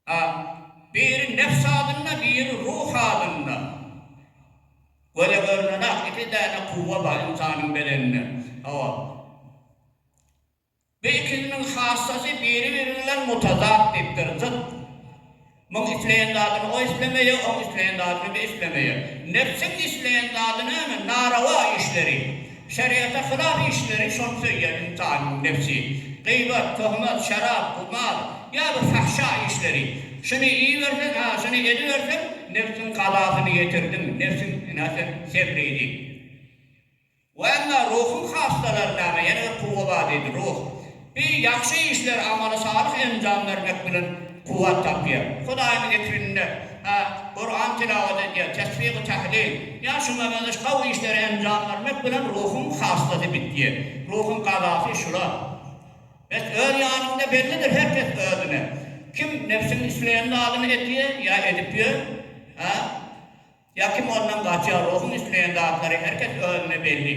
A. Biri nebs halynda, biri ruh halynda. Göze görünen-ak iki däne kuwwa bar ynsanyň bedeninde. Hawa. Bu ikisiniň hassasy biri-biri bilen mutazat diýipdir, zyt. Muň isleýän zadyny o islemeýär, oň isleýän zadyny bu islemeýär. Nebsiň isleýän zady näme? Narawa işleri. Şeriata hylaf işleri şol söýýän ynsanyň nebsi. Gybat, tohmat, şarap, gumar, ýa-da fahşa işleri. Şuny iýiberseň, ha, şuny ediberseň, nebsiň kazasyny ýetirdiň, nebsiňe sen sebri diýip. Wa emma ruhuň hassalary näme? Ýene bir kuwwa bar diýdi, ruh. Bi ýagşy işler amaly salyh enjam bermek bilen kuwwat tapýar. Hudaýyň zikrinde, a, Kuran tilawat edýär, tesbih-u tahlil, ýa şuňa meňzeş gowy işleri enjam bermek bilen ruhuň hassasy bitýär. Ruhuň gazasy şular. Bes öz ýanyňda bellidir her kes özüne. Kim nebsiň isleýän zadyny edýär, ýa edip ýör, a, ýa kim ondan gaçýar, ruhuň isleýän zatlary her kes özüne belli.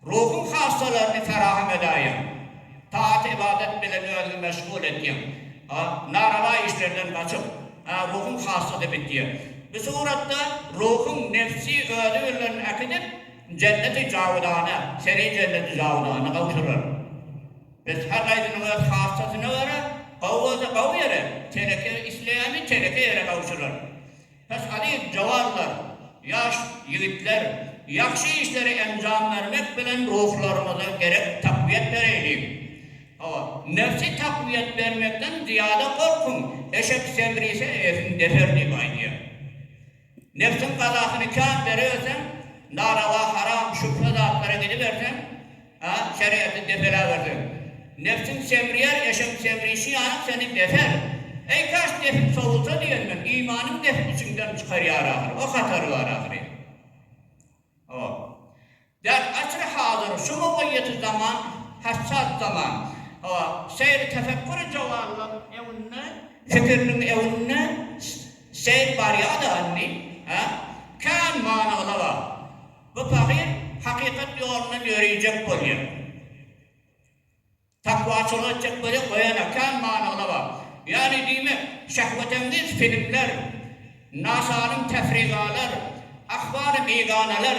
Ruhyň hassalaryny ferahm edäýiň. Taat-ybadat bilen özüňi meşgul etýiň. A. Narawa işlerden gaçyp. A. Ruhyň hassasy bitýär. Bu suratda ruhyň nebsi özi bilen äkidip, jenneti jawydana, seni jenneti jawydana gowşurar. Biz her gaýsynyň öz hassasyna görä, gowy bolsa gowy ýere, teneke isleýämi, teneke ýere gowşurar. Pes alyp jawanlar, ýaş ýigitler ýagşy işleri enjam bermek bilen ruhlarymyza gerek takwiýet bereýliň. Hawa, nebsi takwiýet bermekden zyýada gorkuň, eşek seňrise eýesini deser diýip aýdýar. Nebsiň gazasyny kän bereberseň, narawa, haram, şübhe zatlara gidiberseň, A şerigaty depelawerseň, Nebsiň semrýär, eşegiň semrişi ýalam seni deper. Eý, kaş depip sowulsa diýen men, Imanyň neft içiňden çykarýar ahyry, o hatary bar ahyry. O. Däl asyry hazyr, şu mugaýýaty zaman, hassas zaman. O. Seýri tefekküri jowallar öňünde, fikiriniň öňünde seýr barýada indi. A. Kän many-yla bar. Bu pahyr hakykat ýolundan ýöreýjek bolýar. Takwaçylyk etjek bolýar, goýana kän manygyna bagly. Ýagny diýmek, şähwetengiz filmler, nasanym täfrigalar, ahwaly biganalar.